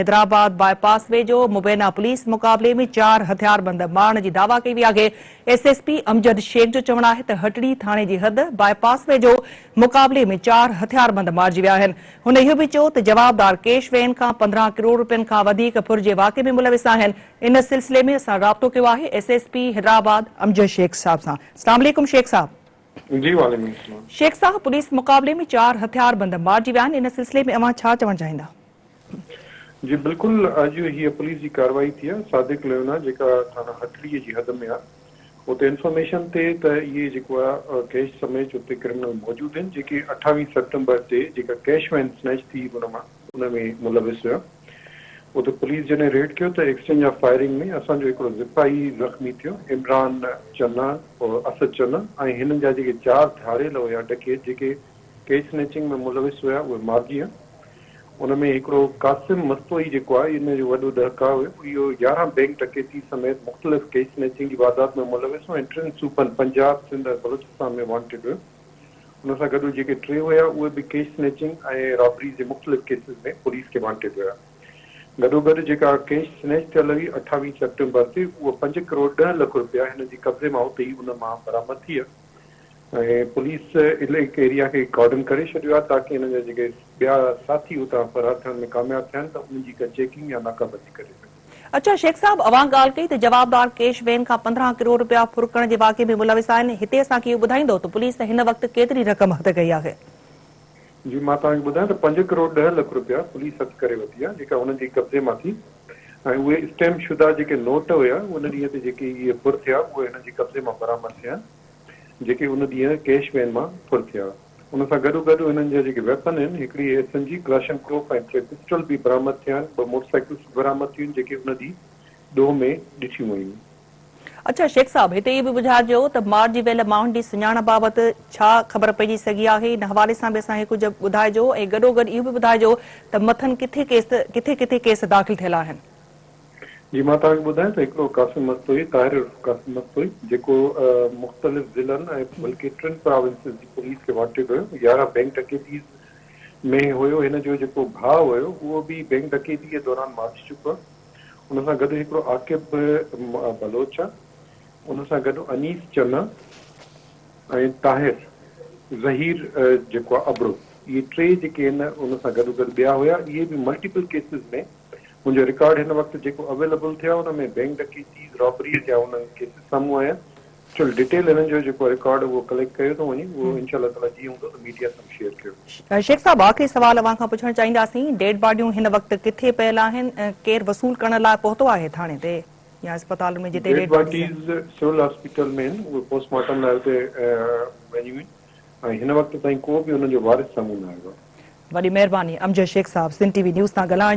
Hyderabad bypass ويجهو مبينا police مقابلي ۾ چار هٿياربند مارڻ جي دعويٰ ڪئي وئي آهي، S S P Amjad Shaikh جو چوڻ آهي ته هٽڙي ٿاڻي جي حد باء پاس ويجهو مقابلي ۾ چار هٿياربند مارجي ويا آهن، هن اهو به چيو ته جوابدار ڪيش وين کان پندرهن ڪروڙ رپين کان وڌيڪ ڦر جي واقعي ۾ ملوث آهن، ان سلسلي ۾ اسان رابطو ڪيو آهي S S P Hyderabad Amjad Shaikh صاحب سان، اسلام عليڪم شيخ صاحب. جي وعليڪم السلام. شيخ صاحب پوليس مقابلي ۾ چار هٿيار بند مارجي ويا آهن ان سلسلي ۾ اوهان ڇا چوڻ چاهيندا. جي بلڪل اڄ هيء پوليس جي ڪارروائي ٿي آهي صادق ليونا جيڪا ٿاڻا هٽڙي جي حد ۾ آهي اتي انفارميشن تي ته اهي جيڪو آهي ڪيش سميت اتي ڪرمنل موجود آهن جيڪي اٺاويهه سيپٽمبر تي جيڪا ڪيش وين سنيچ ٿي هئي ان مان ان ۾ ملوث هيا اتي پوليس جڏهن ريڊ ڪيو ته ايڪسچينج آف فائرنگ ۾ اسان جو هڪڙو سپاهي زخمي ٿيو عمران چنا عرف اسد چنا ۽ هنن جا جيڪي چار ڌاڙيل هيا ڊڪيت جيڪي ڪيش سنيچنگ ۾ ملوث هيا اهي مارجي ويا ان ۾ هڪڙو قاسم مستوئي جيڪو آهي ان جو وڏو ڏهڪاء هيو اهو يارهن بئنڪ ڊڪيتي سميت مختلف ڪيش سنيچنگ جي واردات ۾ ملوث هو ۽ ٽن صوبن پنجاب سنڌ ۽ بلوچستان ۾ وانٽيڊ هيو ان سان گڏو جيڪي ٽي هيا اهي به ڪيش سنيچنگ ۽ رابريز جي مختلف ڪيسز ۾ پوليس کي وانٽيڊ هيا. گڏو گڏ جيڪا ڪيش سنيچ ٿيل هئي اٺاويهه سيپٽمبر تي اهو پنج ڪروڙ ڏهه لک رپيا هن جي قبضي مان اتي ئي ان مان برآمد ٿي هيا ۽ پوليس عليڪ ايريا کي ڪارڊن ڪري ڇڏيو آهي تاڪي هن جا جيڪي ٻيا ساٿي اتان فرار ٿيڻ ۾ ڪامياب ٿيا آهن ته انهن جي ڪا چيڪنگ يا ناڪابندي ڪري سگهجي. اڇا شيخ صاحب اوهان ڳالهه ڪئي ته جوابدار ڪيش وين کان پندرهن ڪروڙ رپيا ڦرڪڻ جي واقعي ۾ ملوث آهن هتي اسان کي اهو ٻڌائيندو ته پوليس هن وقت ڪيتري رقم هٿ ڪئي آهي. جي مان توهان کي ٻڌايان ته پنج ڪروڙ ڏهه لک رپيا پوليس هٿ ڪري ورتي آهي جيڪا هنن جي قبضي مان ٿي ۽ اهي اسٽيمپ شده جيڪي نوٽ هيا ان ڏينهن تي جيڪي اهي ڦر ٿيا اهي هنن جي قبضي مان برآمد ٿيا آهن جيڪي ان ڏينهن ڪيش وين مان ڦر ٿيا هئا. ان سان گڏو گڏ انهن جا جيڪي ويپن آهن، هڪڙي S N G kalashnikov ۽ ٽي پسٽل به برآمد ٿيا آهن، ٻه موٽرسائيڪلز به برآمد ٿيون جيڪي ان ڏينهن ڏوهه ۾ ڏٺيون ويون. اڇا شيخ صاحب هتي اهو به ٻڌاجو ته مار جي ويل ماڻهن جي سڃاڻپ بابت ڇا خبر پئجي سگهي آهي ان حوالي سان به اسان کي ڪجهه ٻڌاجو ۽ گڏو گڏ اهو به ٻڌاجو ته مٿن ڪٿي ڪيس ڪٿي ڪٿي ڪيس داخل ٿيل آهن. جي مان توهان کي ٻڌايان ته هڪڙو قاسم مستوئي، طاهر عرف قاسم مستوئي، جيڪو مختلف ضلعن ۽ بلڪه ٽن پراونسز جي پوليس کي وانٽيڊ هيو، يارهن بئنڪ ڊڪيتيز ۾ هيو، هن جو جيڪو ڀاء هيو اهو به بئنڪ ڊڪيتي جي دوران مارجي چڪو آهي، ان سان گڏ هڪڙو عاقب بلوچ آهي، ان سان گڏ انيس چنا ۽ طاهر ظهير جيڪو آهي ابڙو اهي ٽي جيڪي آهن ان سان گڏوگڏ ٻيا هيا اهي به ملٽيپل ڪيسز ۾ منهنجو رڪارڊ هن وقت جيڪو اويليبل ٿيو آهي ان ۾ بينڪ ڊڪيتيز، رابريز يا ان جا ڪيسز سامهون آيا چل ڊيٽيل هنن جو جيڪو رڪارڊ اهو ڪليڪٽ ڪيو ٿو وڃي اهو انشاء الله تعاليٰ جيئن هوندو ته ميڊيا سان به شيئر ڪيو ويندو. شيخ صاحب آخري سوال اوهان کان پڇڻ چاهينداسين ڊيڊ باڊيون هن وقت ڪٿي پيل آهن ڪير وصول ڪرڻ لاء پهتو آهي ٿاڻي تي يا اسپتالن ۾ جتي ڊيڊ باڊيز آهن. ڊيڊ باڊيز سول هاسپيٽل ۾ آهن اهي پوسٽ مارٽم لاء اتي وڃيون آهن ۽ هن وقت تائين ڪو به انهن جو وارث سامهون نه آيو آهي. وڏي مهرباني امجد شيخ صاحب سنڌ ٽي وي نيوز سان ڳالهائڻ جي لاء.